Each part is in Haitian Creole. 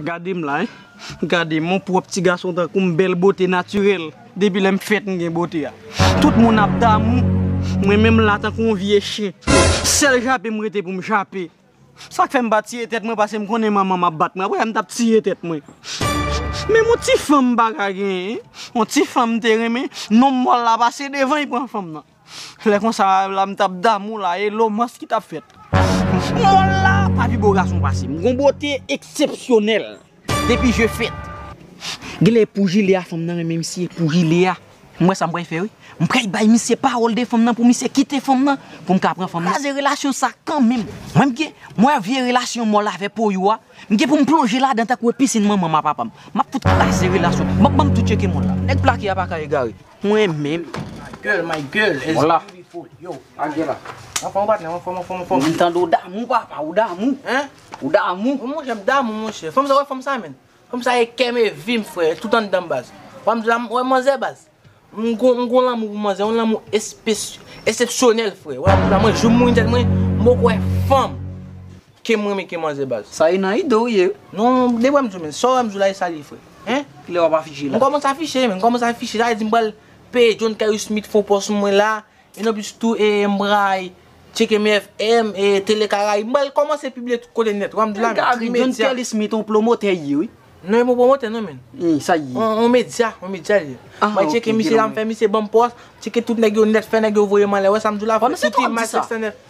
Gade m la hein Gade m on pwòp ti gason tankou m bèl bote natirèl Depi lè m fèt m gen bote a Tout moun ap damou Mwen menm la tankou on vye chen Sèl jape m rete pou m jape Sa k fè m pa tiye tèt mwen pase m konnen manman m ap bat mwen Aprè sa m t ap tiye tèt mwen Menm on ti fanm m pa ka genyen On ti fanm m te renmen Non mòl la pase devan li pran fanm nan. Lè konsa la m tap damou la e lomans ki tap fèt. Mòl la pa pi bo gason pase m. Gon bote eksepsyonèl depi je fèt. Genlè pou jile a fanm nan renmen misye pou jile a. M wè sa m pral fè wi. M pral bay misye pawòl de fanm nan pou misye kite fanm nan pou m ka pran fanm nan. Kraze relasyon sa kanmenm. Mwen m gen, mwen wè vye relasyon mòl avè poyo a, m gen pou m plonje ladan tankou e pisin manman m a papa m. M ap fout kraze relasyon. M ap banm tou tyeke mòl la. Nèg plake a paka egare. Mwen menm. My girl my girl as beautiful yo. Angela. Anfom ou patnèm anfom anfom anfom. Mwen tande ou damou papa ou damou. Hein? Ou damou. Mwen monchè m damou monchè. Fanm sa wè fanm sa menn. Fanm sa e kèm e vim frè e tout anndanm baz. Wè m di la m wè manzè baz. M gon m gon lanmou pou manzè yon lanmou espe esepsyonèl frè. Wè m di la mwen joum mouin tèt mwen m poko wè fanm. Kem renmen ken manzè baz. Sa ye nan ido ou ye wi. Non de wèm diw menn, sa wèm diw la e sa liye frè. Hein? Kilè wap afiche la? M kòmanse afiche menn, m kòmanse afiche, sa vle di m pral peye John Caillou Smith fon pòs mwen la, en anplis tou e m pral tcheke MFM e Tele Caraïbe, m pral kòmanse pibliye tout kote nèt, wèm diw la menn, ti medya. Gary, John Caillou Smith on pwomotè li ye wi. Non e pa on pwomotè non menn. Hein, sa li ye? On medya, on medya li ye. Ah ok, gen lòm. Mwen tcheke misye la, m fè misye banm pòs, m tcheke tout nèg yo nèt, fè nèg yo voyem anlè, wè sa m diw la frè, tout imaj 709.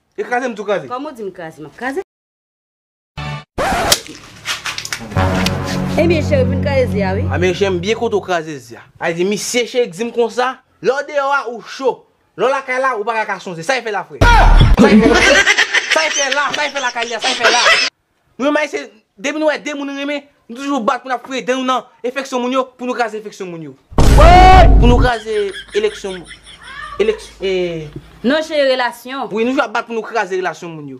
E kraze m tou kraze. Kòman w di m kraze m ap kraze. Ebyen cheri pou n kraze zi a wi. Anben cheri m byen kontan w kraze zi a. Ay di misye cheri k di m konsa. Lè w deyò a ou cho. Lè w lakay la ou pa ka ka sonje. Sa y fè la frè. Sa y fè la. Sa y fè la sa y fè lakay li a sa y fè la. Mwen may se depi nou wè 2 moun nou renmen nou toujou bat pou nap fouye dan nou nan efeksyon moun yo pou nou kraze efeksyon moun yo woyy pou nou kraze eleksyon moun eleks ee. Nan jere relasyon. Wi nou toujou ap bat pou nou kraze relasyon moun yo.